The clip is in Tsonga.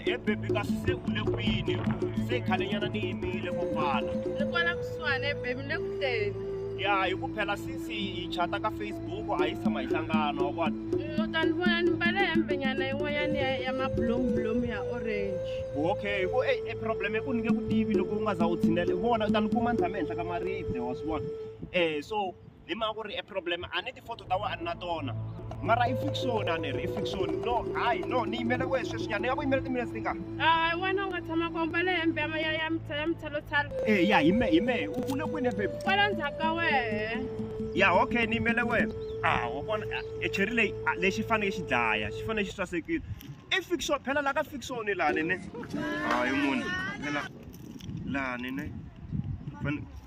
e bebi kasi se u le kwini se khalenyana ni yimile ko kwala ni kwala kusuhana ebebi ni le ku teni ya hi ku phela since hi chata ka facebook a yi tshama hi hlangana wa vona mm, u ta ni vona ni mbale hembenyana yin'wanyana ya ya mabulombulomu ya orange okay hi ku e e problem i ku ni nge ku tivi loko u nga za u tshinele vona u ta ni kuma ni tshame henhla ka maribye wa swi vona um so hi mhaka ku ri e problem a ni ti-photo ta wena a ni na tona mara i fiction a ni ri i fiction no hayi no ni yimele wehe sweswinyana ni nga ku yimela timinetse ti nga a wena u nga tshama ku ambale hembe ya ma- ya ya mtsa- ya mitsalotsalo e ya hi me hi mehe u le kwini baby kwala ndzhaku ka wehe ya okay ni yimele wehe a wa vona ah, e cheri leyi ah, lexi fanele xi dlaya xi fanele xi sasekile i fiction phela la ka fiction lani ne hayi munhu phela lani ne Fane-